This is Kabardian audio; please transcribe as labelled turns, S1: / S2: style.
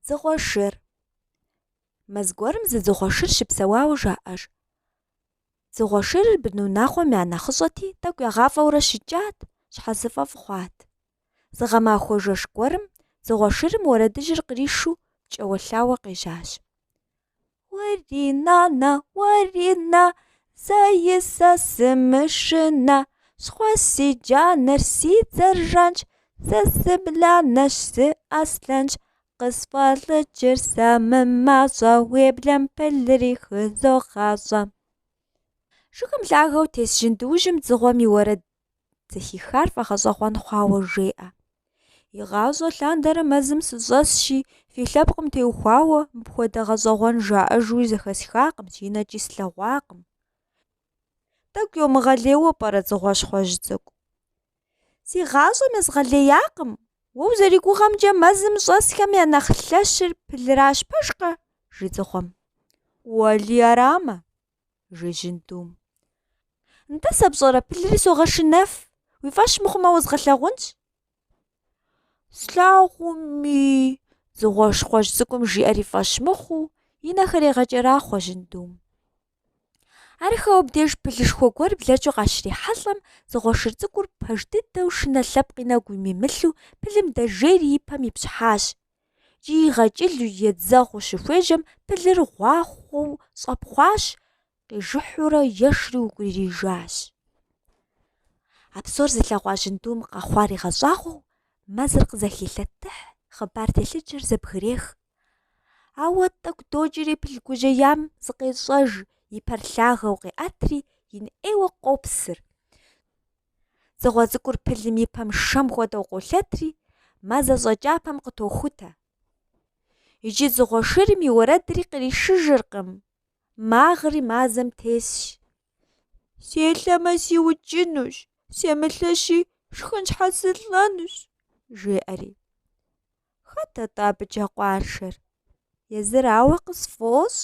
S1: Дзыгъуэ шыр. Мэз гуэрым зы дзыгъуэ шыр щыпсэуауэ жаӏэж. Дзыгъуэ шырыр бынунагъуэм я нэхъыщӏэти, тӏэкӏу ягъафӏэурэ щыкӏат, щхьэзыфӏэфӏ хъуат. Зы гъэмахуэ жэщ гуэрым дзыгъуэ шырым уэрэдыжьыр къришу пкӏэуэлъауэ къежьащ. Уэри нанэ, уэри нэ, зэи сэ сымышынэ, Щхъуэщ си джанэр, си дзэр жанщ, Сэ сыбланэщ, сыаслъэнщ. Къысфӏэлӏыкӏыр сэ мымащӏэ, Уеблэм пылри хызогъащӏэ. Жыгым лъагэу тес жьындуужьым дзыгъуэм и уэрэд зэхихар фӏэгъэщӏэгъуэн хъуауэ жеӏэ. Игъащӏэ лъандэрэ мэзым сыщӏэсщи, фи лъэпкъым теухуауэ мыпхуэдэ гъэщӏэгъуэн жаӏэжуи зэхэсхакъым, си нэкӏи слъэгъуакъым. Тӏэкӏу йомыгъэлейуэ пӏэрэ дзыгъуэщхъуэжь цӏыкӏу? Си гъащӏэм езгъэлеякъым, уэ узэригугъэмкӏэ мэзым щӏэсхэм я нэхъ лъэщыр пылращ пэжкъэ? жи дзыгъуэм. Уэли арамэ? жи жьындум. Нтӏэ сэ пщӏэрэ пылри согъэшынэф, уи фӏэщ мыхъумэ уэзгъэлъагъунщ. Слъагъуми, дзыгъуэщхъуэжь цӏыкӏум жиӏэр и фӏэщ мыхъуу, и нэхэр егъэкӏэрахъуэ жьындум. Арыххэу абдеж пылышхуэ гуэр блэкӏыу къащрихьэлӏэм, дзыгъуэ шыр цӏыкӏур пэж дыдэу шынэ лъэпкъ и нэгу имимылъу пылым дэжейри и пэм ипщхьащ, Икӏи игъэкӏылу едзэгъуу щыхуежьэм пылыр гъуахъуэу щӏэпхъуащ, къижыхьурэ ешри укӏуриижащ. А псор зылъэгъуа жьындум къэхъуар игъэщӏагъуэу, мэзыр къызэхилъэтыхь, хъыбар телъыджэр зэбгрех. Ауэ тӏэкӏу докӏри пыл гужьеям зыкъещӏэж, и пэр лъагэу къеӏэтри, ин ӏейуэ къопсыр. Дзыгъуэ цӏыкӏур пылым и пэм шэм хуэдэу къолъэтри, мазэщӏэ кӏапэм къытохутэ. Иджы дзыгъуэ шырым и уэрэдри къришыжыркъым, магъри мазэм тесщ. Селъэмэ сиукӏынущ, семылъэщи шхын щхьэ сылӏэнущ, жеӏэри. Хэт атӏэ абыкӏэ къуаншэр? Езырауэ къысфӏощӏ.